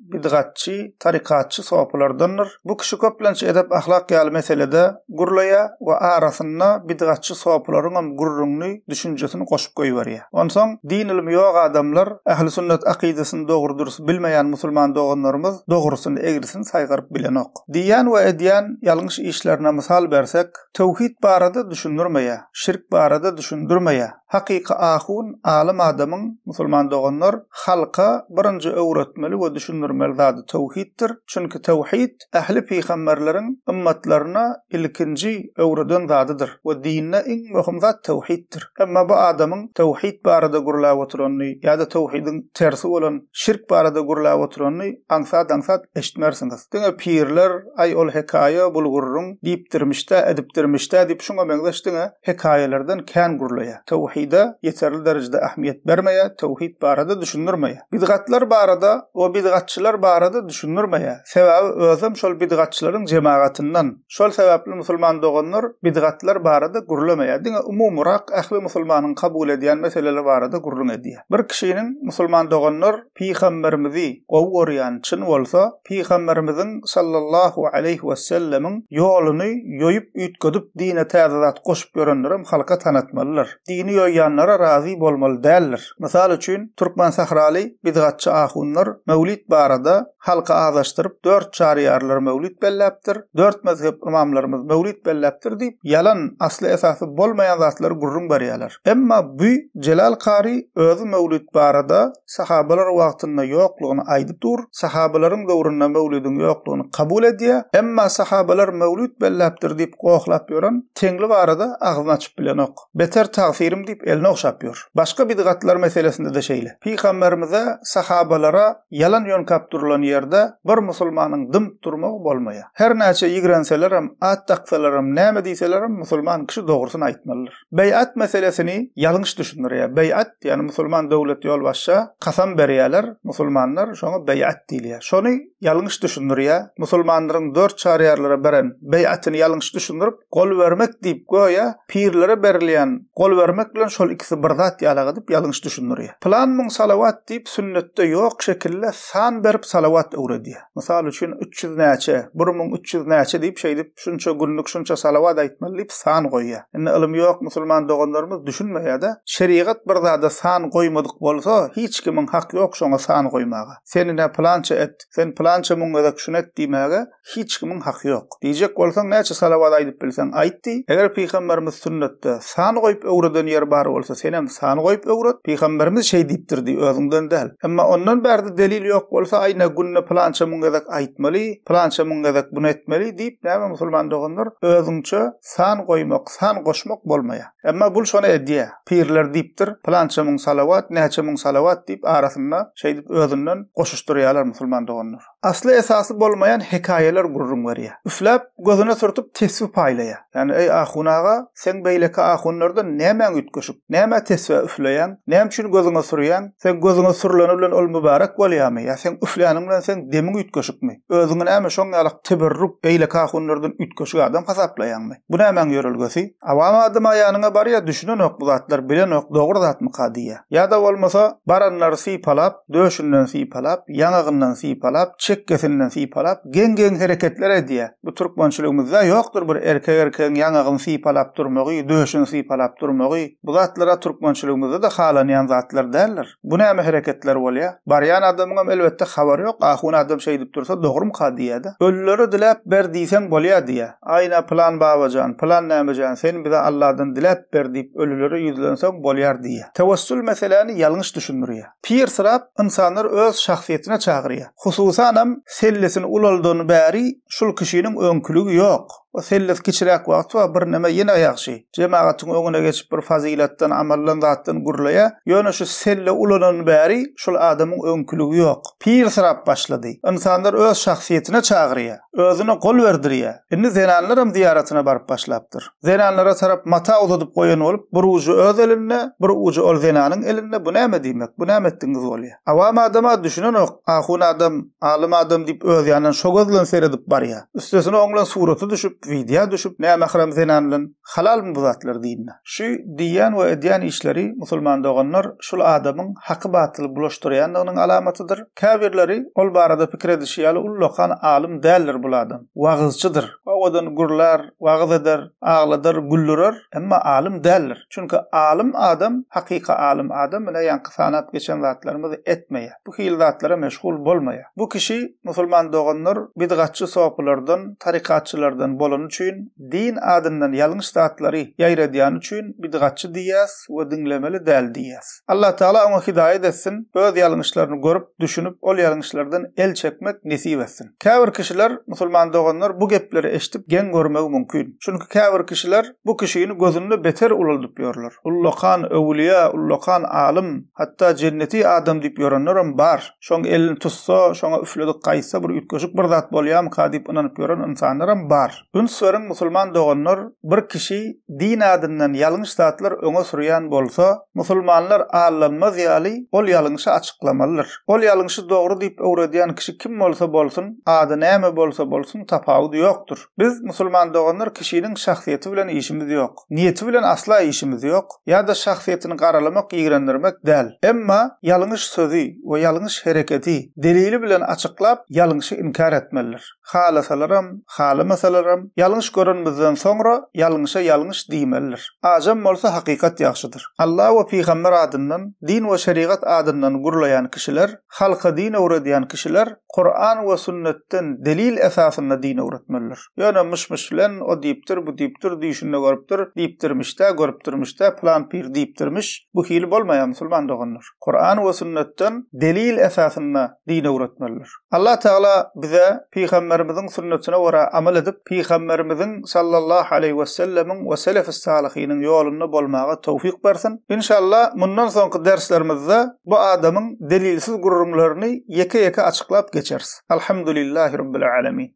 bidgatçy, tarykatçy sopulardandyr. Bu kişi köplenç edep-ahlak ýaly meselede gürleýär we arasyna bidgatçy sopularyňam gürrüňini, düşünjesini goşup goýberýär. Onsoň din-ylmy ýok adamlar, ählisünnet akydasyny dogry-dürs bilmeýän musulman doganlarymyz dogrusyny, egrisini saýgaryp bilenok. Diýýän we edýän ýalňyş işlerine mysal bersek, Töwhit barada düşündirmeýär, şirk barada düşündirmeýär. Hakyky ahun, alym adamyň, musulman doganlar, halka birinji öwretmeli we düşündirmeli zady töwhitdir. Çünki töwhit, ähli pygamberleriň ymmatlaryna ilkinji öwreden zadydyr we dinde iň möhüm zat töwhitdir. Emma bu adamyň töwhit barada gürläp oturanyny ýa-da töwhidiň tersi bolan şirk barada gürläp oturanyny aňsat-aňsat eşitmersiňiz. Diňe pirler, Aý, ol hekaýa bul gürrüň diýipdirmiş-dä, edipdirmiş-dä diýip şuňa meňzeş diňe hekaýalardan kän gürleýär. Töwhide ýeterli derejede ähmiýet bermeýär, töwhit barada düşündirmeýär. Bidgatlar barada we bidgatçylar barada düşündirmeýär. Sebäbi özem şol bidgatçylaryň jemagatyndan. Şol sebäpli musulman doganlar bidgatlar barada gürlemeýär. Diňe umumyrak ähli musulmanyň kabul edýän meseleleri barada gürrüň edýär. Bir kişiniň musulman doganlar. Pygamberimizi gowy görýän çyn bolsa, Pygamberimiziň sallallahu aleýhi wesellemiň ýoluny ýoýup üýtgedip dine täze zat goşup ýörenlerem halka tanatmalydyr. Dini ýoýýanlara razy bolmaly däldir. Mysal üçin Türkmen sahraly bidgatçy ahunlar Möwlid barada halky azaşdyryp dört çaryýarlar Möwlid belläpdir, dört mezhep ymamlarymyz Möwlid belläpdir diýip ýalan asly esasy bolmaýan zatlary gürrüň berýäler. Emma bu Jelal kary özi möwlüt barada sahabalar wagtynda ýoklugyny aýdyp dur, sahabalaryň döwründe möwlüdiň ýoklugyny kabul edýä, emma sahabalar möwlüt belläpdir diýip gohlap ýören Teňli barada agzyny açyp bilenok. Beter tagsyrim diýip elini ogşap ýör. Başga bidgatlar meselesinde-de şeýle. Pygamberimize, sahabalara ýalan ýönkap durulan ýerde bir musulmanyň dymyp durmagy bolmaýa. Her näçe ýigrenselerem, at daksalarem, näme diýselerem musulman kişi dogrusyny aýtmalydyr. Beýat meselesini ýalňyş düşündirýär. Beýat, ýagny musulman döwlet ýolbaşça kasam berýärler, musulmanlar şoňa beýat diýilýär. Şony ýalňyş düşündirýär. Musulmanlaryň dört çaryýarlara beren beýatyny ýalňyş düşündirip, gol bermek diýip göýä pirlere berilýän gol bermek bilen şol ikisi bir zat ýalak edip ýalňyş düşündirýär. Pylan müň salawat diýip sünnetde ýok şekilde san berip salawat öwredýär. Mysal üçin üç ýüz näçe, bir müň üç ýüz näçe diýip şeýdip Şunça günlük şunça salawat aýtmaly diýip san goýýa. Indi ylym ýok musulman doganlarymyz düşünmeýädä. Şerigat bir zada san goýmadyk bolsa hiç kimiň hak ýok şoňa san goýmaga. Sen ine pylança et, sen pylança müň gezek şuny et diýmäge hiç kimiň haky ýok. Diýjek bolsaň näçe salawat aýdyp bilseň aýt diý. Eger pygamberimiz sünnetde, San goýup öwreden ýeri bar bolsa, senem san goýup öwret. Pygamberimiz şeý diýipdir diý, özüňden däl. Emma ondan bärde delil ýok bolsa, aýna günde pylança müň gezek aýtmaly, pylança müň gezek buny etmeli diýip, näme musulman doganlar, özüňçe san goýmak, san goşmak bolmaýar. Emma bul şony edýär. Pirler diýipdir, pylança müň salawat, näçe müň salawat diýip, arasynda şeýdip özünden goşuşdyrýarlar musulman doganlar. Asly-esasy bolmaýan hekaýalar gürrüň berýär. Üfläp, gözüne sürtüp tesbi paýlaýar. Ýagny, eý, ahun aga, seň beýleki ahunlardan nämäň üýtgeşik? Nämä tesbä üfleýäň? Näme üçin gözüňe sürýäň? Seň gözüňe sürüleni bilen ol mübärek bolýarmy? Ýa seň üfläniň bilen seň demiň üýtgeşikmi? Özüňi näme şoň ýalak teberruk, beýleki ahunlardan üýtgeşik adam hasaplaýaňmy? Bu nämäň ýörelgesi? Awam adama ýanyňa barýar, düşünenok bu zatlar, bilenok, dogry zatmyka diýýär. Ýa-da bolmasa, baranlary sypalap, döşünden sypalap, ýaňagyndan sypalap, çekgesinden sypalap, geň-geň hereketler edýär. Bu türkmençiligimizde ýokdur bir erkek erkegiň ýaňagyny sypalap durmagy, döşüni sypalap durmagy. Bu zatlar-a türkmençiligimizde-de halanýan zatlar däldir. Bu näme hereketler bolýar? Barýan adamyňam elbetde habary ýok, ahun adam şeýdip dursa dogrumyka diýýär-de. Ölülere diläp ber diýseň bolýar diýýär. Aýna pylan baba jan, pylan näme jan, sen bize Alladan diläp ber diýip ölülere ýüzlenseň bolýar diýýär. Tewessül meseläni ýalňyş düşündirýär. Pyrsyrap ynsanlar öz şahsyýetine çagyrýar. Hususanam sellesini ulaldan bäri şul kişiniň öňküligi ýok. O selles kiçiräk wagty bar birneme ýene ýagşy. Jemagatyň öňüne geçip bir fazylatdan, amaldan zatdan gürleýär. Ýöne şu selle ulanan bäri şul adamyň öňküligi ýok. Pyrsyrap başlady. Ynsanlar öz şahsyýetine çagyrýar. Özüne gol berdirýär. Indi zenanlaram zyýaratyna baryp başlapdyr. Zenanlara tarap mata uzadyp goýan bolup, bir ujy öz elinde, bir ujy ol zenanyň elinde, bu näme diýmek, bu näme etdigiňiz bolýar? Awam adam-a düşünenok, ahun adam, alym adam diýip öz ýanyndan şo göz bilen seredip barýar. Üstesine oň bilen surata düşüp, widýa düşüp, nämähram zenan bilen, halalmy bu zatlar dine? Şu diýýän we edýän işleri, musulman doganlar, şul adamyň haky-batyly bulaşdyrýandygynyň alamatydyr. Käbirleri, ol barada pikir edişi ýaly, ullakan alym däldir bul adam. Wagyzçydyr. Owadan gürlär. Wagyz eder, agladar, güldürer, emma alym däldir. Çünki alym adam, hakyky alym adam ine ýaňky sanap geçen zatlarymyz etmeýär. Bu hili zatlara meşgul bolmaýar. Bu kişi, musulman doganlar, bidgatçy sopylardan, tarykatçylardan bolany üçin, din adyndan ýalňyş zatlary ýaýradýany üçin bidgatçy diýýäs we diňlemeli däl diýýäs. Allatagala oňa hidaýat etsin, öz ýalňyşlaryny görüp, düşünip, ol ýalňyşlardan el çekmek nesip etsin. Käbir kişiler, musulman doganlar bu gepleri eşdip geň görmegi mümkin. Çünki käbir kişiler bu kişini gözünde beter ulaldyp ýörler. Ullakan öwülýä, ullakan alym, hatda jenneti adam diýip ýörenlerem bar. Şoň elini tutsa, şoňa üfledip gaýtsa bir üýtgeşik bir zat bolýamyka diýip ynanyp ýören ynsanlaram bar. Üns beriň musulman doganlar bir kişi din adyndan ýalňyş zatlar öňe sürýän bolsa musulmanlar allanmaz ýaly ol ýalňyşy açyklamalydyr. Ol ýalňyşy dogry diýip öwredýän kişi kim bolsa bolsun, ady näme bolsa bolsun tapawudy ýokdur. Biz musulman doganlar kişiniň şahsyýeti bilen işimiz ýok. Niýeti bilen asla işimiz ýok, ýa-da şahsyýetini garalamak ýigrendirmek däl. Emma ýalňyş sözi we ýalňyş hereketi delili bilen açyklap ýalňyşy inkär etmelidir. halasalaram, halamasalaram, ýalňyş görenimizden soňra ýalňyşa ýalňyş diýmelidir. Ajam bolsa hakykat ýagşydyr. Alla we pygamber adyndan, din we şerigat adyndan gurlaýan kişiler, halka din öwredýän kişiler Kuran we sünnetden delil esasynda din öwretmelidir. Ýöne myş-myş bilen, o diýipdir, bu diýipdir, düýşünde görüpdir, diýipdirmiş-dä, görüpdirmiş-dä, pylan pir diýipdirmiş, bu hili bolmaýar musulman doganlar. Kuran we sünnetden delil esasynda din öwretmelidir. Allah Teala bize Pygamberimiziň sünnetine görä amal edip, Pygamberimiziň sallallahu aleýhi we sellemiň we selefis salyhynyň ýolunda bolmaga towfik bersin. Inşallah mundan soňky derslerimizde bu adamyň delilsiz gürrüňlerini ýeke-ýeke açyklap geçeris. Alhamdulillahi Rabbil Alemin.